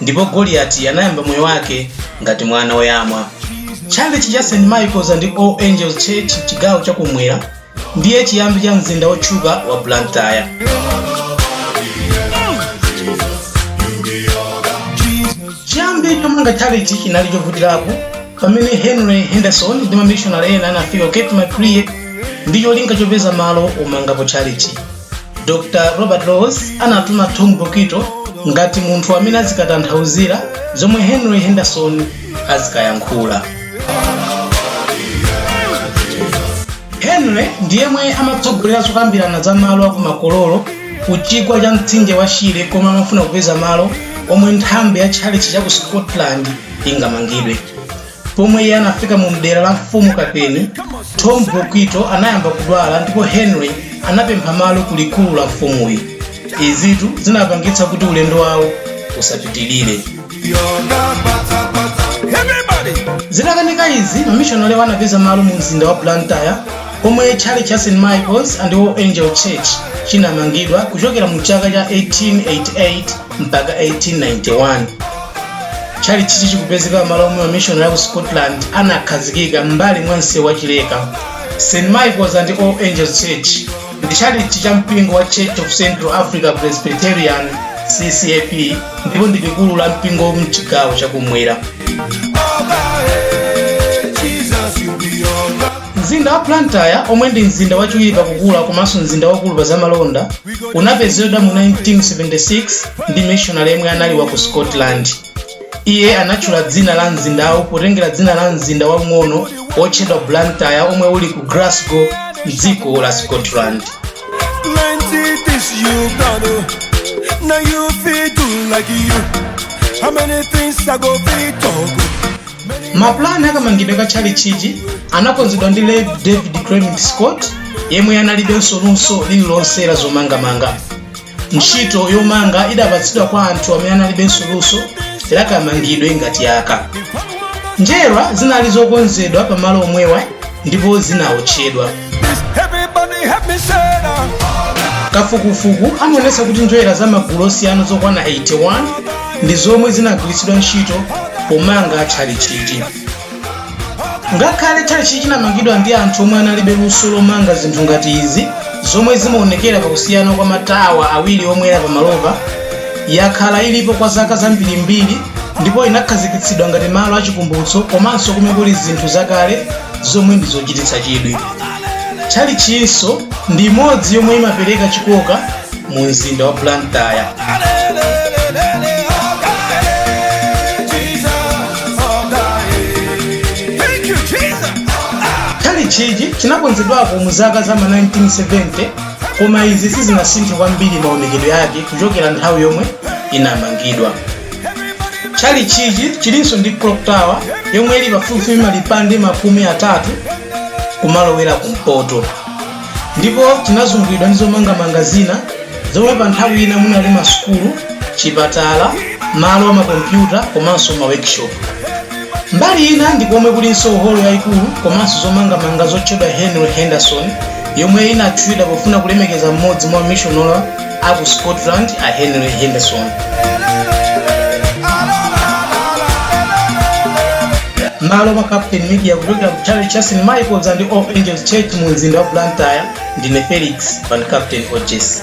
ndipo goliyati anayamba moyo wake ngati mwana woyamwa tchalitchi cha st michaels and all angels church mchigawo chakumwera ndiye chiyambi cha mzinda wotchuka wa blantyre chiyambi chomanga tchalitchi chinali chovutirapo pamene henry henderson ndi mamishonari ena anafika ku cape maclear ndi cholinga chopeza malo omangapo tchalitchi dr robert laws anatuma tom bokwito ngati munthu amene azikatanthauzira zomwe henry henderson azikayankhula henry ndi yemwe amatsogolera zokambirana za malo akumakololo ku chigwa cha mtsinje wa shire komwe amafuna kupeza malo omwe nthambi ya tchalitchi cha ku scotland ingamangidwe Pomwe iye anafika mu mdera la mfumu Kapeni, Tom Bokwito anayamba kudwala ndipo Henry anapempha malo ku likulu la mfumuyi. Izitu zinapangitsa kuti ulendo wawo usapitilire. Zitakanika izi, mamishonalewa anapeza malo mu mzinda wa Blantyre pomwe tchalitchi cha St. Michael's and All Angels Church chinamangidwa kuchokera mu chaka cha 1888 mpaka 1891 tchalitchichi chikupezeka m'malo omwe mamishonari aku scotland anakhazikika m'mbali mwa msewu wa chileka st michaels and all angels church ndi tchalitchi cha mpingo wa church of central africa presbyterian ccap ndipo ndi likulu la mpingo mchigawo chakumwera Mzinda wa Blantyre, omwe ndi mzinda wachiwiri pa kukula komanso mzinda waukulu pa zamalonda, unapezedwa mu 1976 ndi mmishonale yemwe anali wa ku Scotland. Iye anatchula dzina la mzindawo potengera dzina la mzinda waung'ono wotchedwa Blantyre omwe uli ku Glasgow, m'dziko la Scotland. mapulani akamangidwe ka tchalitchichi anakonzedwa ndi rev david clement scott yemwe analibenso luso lililonse la zomangamanga ntchito yomanga idapatsidwa kwa anthu amene analibenso luso lakamangidwe ngati aka njerwa zinali zokonzedwa pamalo omwewa ndipo zinaotchedwa kafukufuku amaonetsa kuti njerwa za magulu osiyana zokwana 81 ndi zomwe zinagwiritsidwa ntchito pomanga tchalitchichi ngakhale tchalitchi chinamangidwa ndi anthu omwe analibe luso lomanga zinthu ngati izi zomwe zimaonekera pakusiyana kwa matawa awiri omwe ali pamalopa yakhala ilipo kwa zaka zambirimbiri ndipo inakhazikitsidwa ngati malo achikumbutso komanso komwe kuli zinthu zakale zomwe ndi zochititsa chidwi. Tchalitchinso ndi imodzi yomwe imapereka chikoka mu mzinda wa Blantyre. Tchalitchichi chinakonzedwako mu zaka za ma 1970 koma izi sizinasinthe kwambiri maonekedwe yake kuchokera nthawi yomwe inamangidwa. tchalitchichi chilinso ndi clock tower yomwe ili pafupifupi malipande makumi atatu kumalowera kumpoto ndipo chinazungulidwa ndi zomangamanga zina zomwe pa nthawi ina munali masukulu chipatala malo a makompyuta komanso ma workshop mbali ina ndi komwe kulinso holo yayikulu komanso zomangamanga zotchedwa henry henderson yomwe inatchulidwa pofuna kulemekeza mmodzi mwa mishonale a ku scotland a henry henderson m'malo mwa captain media kuchokera ku tchalitchi cha st michaels and all angels church mu mzinda wa blantyre ndine felix van captain oh Jesus.